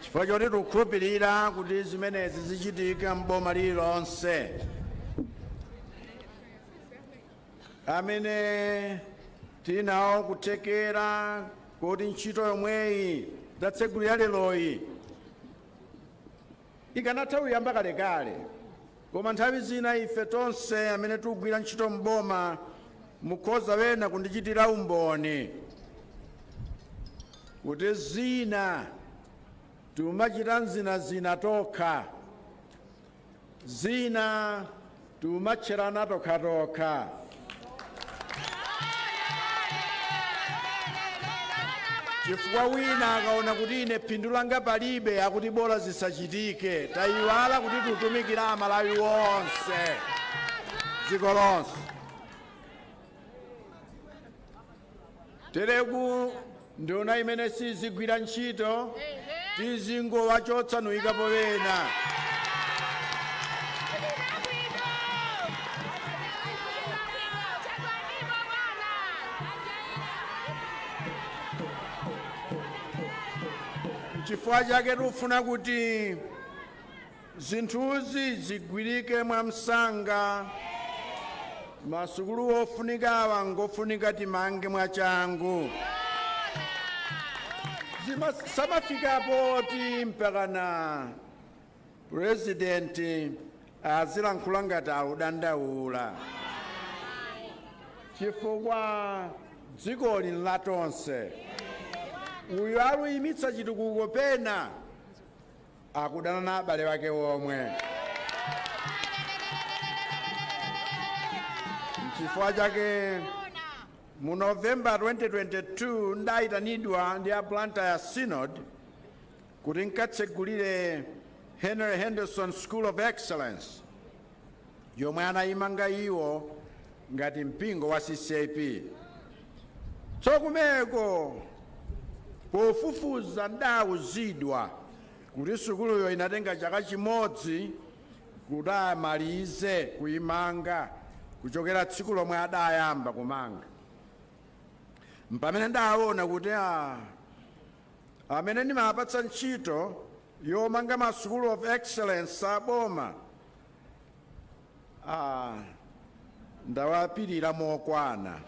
chifukwa choti tikukhulupirira kuti zimenezi zichitika m'boma lililonse amene tili nawo kuthekera kuti ntchito yomweyi tatsegulira leroyi Ikanatha kuyamba kalekale koma nthawi zina ife tonse amene tikugwira ntchito m'boma mukhoza ena kundichitira umboni kuti zina timachita zinazina tokha zina timatcherana tokhatokha. Chifukwa wina akaona kuti ine phindu langa palibe akuti bola zisachitike. Taiwala kuti tutumikira Amalawi onse dziko lonse. tereko nduna imene sizigwira ntchito tizingowachotsa nkuyikapo wena chifukwa chake tikufuna kuti Zinthuzi zigwirike mwamsanga. Masukulu ofunikawa ngofunika timange mwachangu. Zisamafike poti mpakana purezidenti azilankhula ngati akudandaula chifukwa dzikoli nlatonse uyo akuyimitsa chitukuko pena akudana na abale ake omwe. N'chifukwa chake mu November 2022 ndaitanidwa ndi a Blantyre Synod kuti nkatsegulire Henry Henderson School of Excellence yomwe anayimanga iwo ngati mpingo wa ccap tsokumeko pofufuza ndawuzidwa kuti sukuluyo inatenga chaka chimodzi kuti amalize kuyimanga kuchokera tsiku lomwe adayamba kumanga mpamene ndawona kuti a amene ndimawapatsa ntchito yomanga ma sukulu of excellence a boma ah, ndawapirira mokwana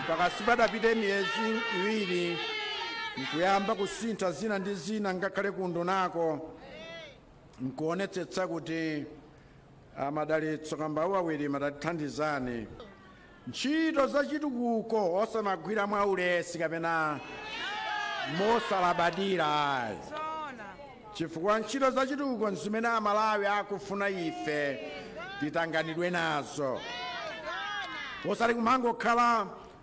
mpaka sipanapite miyezi iwiri nkuyamba kusintha zina ndi zina ngakhale kundunako nkuonetsetsa kuti amadalitso kambauwa wirima tatithandizani ntchito za chitukuko osamagwira mwa ulesi kapena mosalabadira ayi chifukwa ntchito za chitukuko nzimene amalawi akufuna ife titanganidwe nazo osati kumangokhala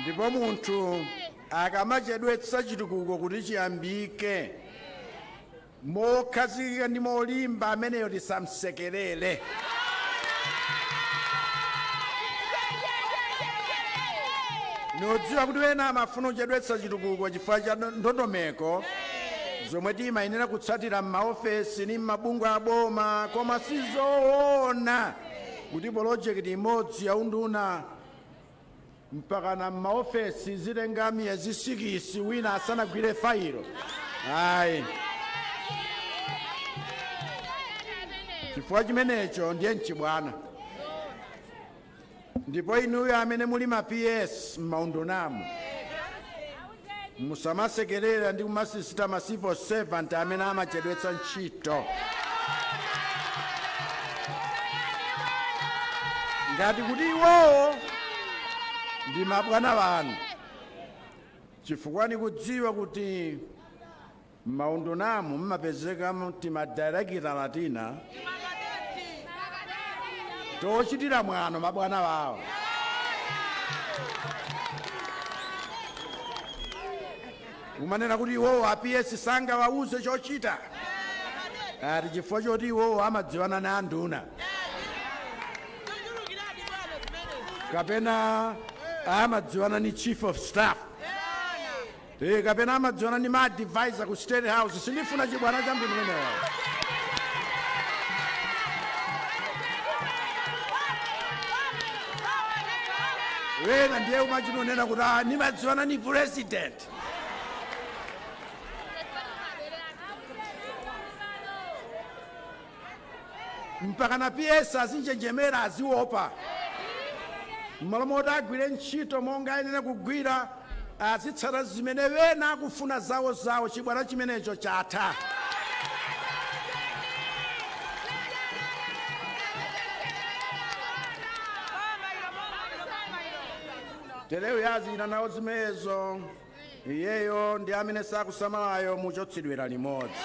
ndipo munthu akamachedwetsa chitukuko kuti chiyambike mokhazikika ndi molimba ameneyo tisamsekerere nikudziwa kuti wena amafuna kuchedwetsa chitukuko chifukwa cha ndo- ndondomeko zomwe timayenera kutsatira m'maofesi ndi m'mabungwe aboma koma sizoona kuti polojekiti imodzi ya unduna mpakana m'maofesi zizitenga miyezi sikisi wina asanagwire failo ayi chifukwa chimenecho ndiye nchibwana ndipo inuyo amene muli ma ps m'maundunamu Musamasekelera ndi kumasisita ma civil servant amene amachedwetsa ntchito. ngati kuti iwowo ndi mabwana anu chifukwa ndikudziwa kuti M'maundunamu m'mapezeka timadailekitala tina tochitira mwano mabwana awo. Kumanena kuti iwowo a PS sangawauze chochita ati chifukwa choti iwowo amadziwana ndi anduna kapena amadziwana ndi chief of staff Eee kapena amadziwana ndi ma advisor aku state house sindifuna chibwana cha mtundu umenewo. Wena ndiye amachita kunena kuti ah nimadziwana ni president. Mpakana PS azinjenjemera aziopa mmalo moti agwire ntchito monga ayenera kugwira azitsata zimene ena akufuna zawo zawo chibwana chimenecho chatha. Telewo azipita nawo zimezo. Iyeyo ndi amene sakusamalayo muchotsedwela limodzi.